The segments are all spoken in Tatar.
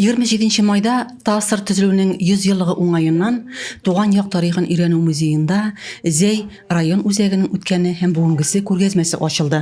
Егерме җиденче майда ТАССР төзелүенең 100 еллыгы уңаеннан Туган як тарихын өйрәнү музеенда Зәй район үзәгенең үткәне һәм бүгенгесе күргәзмәсе ачылды.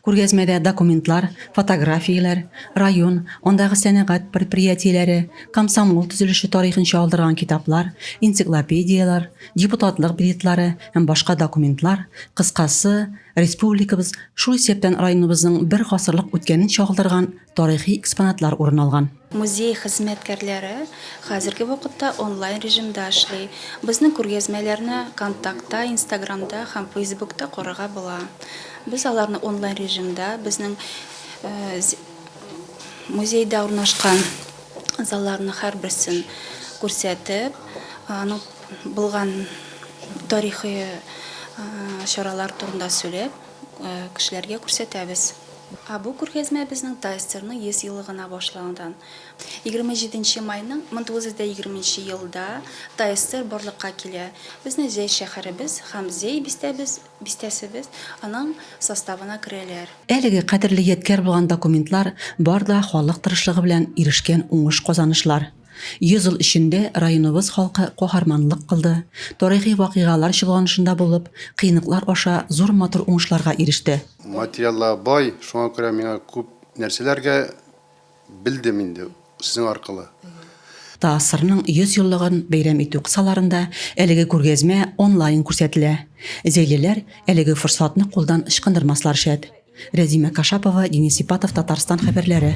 Күргәзмәдә документлар, фотографияләр, район, андагы сәнәгать предприятиеләре, комсомол төзелеше тарихын чагылдырган китаплар, энциклопедияләр, депутатлык билетлары һәм башка документлар, кыскасы, республикабыз, шул исәптән районыбызның бер гасырлык үткәнен чагылдырган тарихи экспонатлар урын алган. Музей хезмәткәрләре хәзерге вакытта онлайн режимда эшли. Безнең күргәзмәләрне Контактта, Инстаграмда һәм Фейсбукта карарга була. Без аларны онлайн режимда безнең музейда урнашкан залларның һәрберсен күрсәтеп, аның булган тарихи чаралар турында сөйләп, кешеләргә күрсәтәбез. Ә бу күргәзмә безнең ТАССЕРның 100 елы гына башланудан. Егерме җиденче майның мең тугыз йөз дә егерме нче елда ТАССЕР барлыкка килә. Безне Зәй шәһәребез һәм Зәй бистәбез, бистәсебез, аның составына керәләр. Әлеге кадерле ядкяр булган документлар бар да халык тырышлыгы белән ирешкән уңыш-казанышлар. Йөз ел эчендә районыбыз халкы каһарманлык кылды, тарихи вакыйгалар чолганышында булып, кыенлыклар аша зур матур уңышларга иреште. Материаллар бай, шуңа күрә миңа күп нәрсәләргә белдем инде сезнең аркылы. ТАССРның 100 еллыгын бәйрәм итү кысаларында әлеге күргәзмә онлайн күрсәтелә. Зәйлеләр әлеге форсатны кулдан ычкындырмаслар шәт. Рәзимә Кашапова, Денис Ипатов, Татарстан хәбәрләре.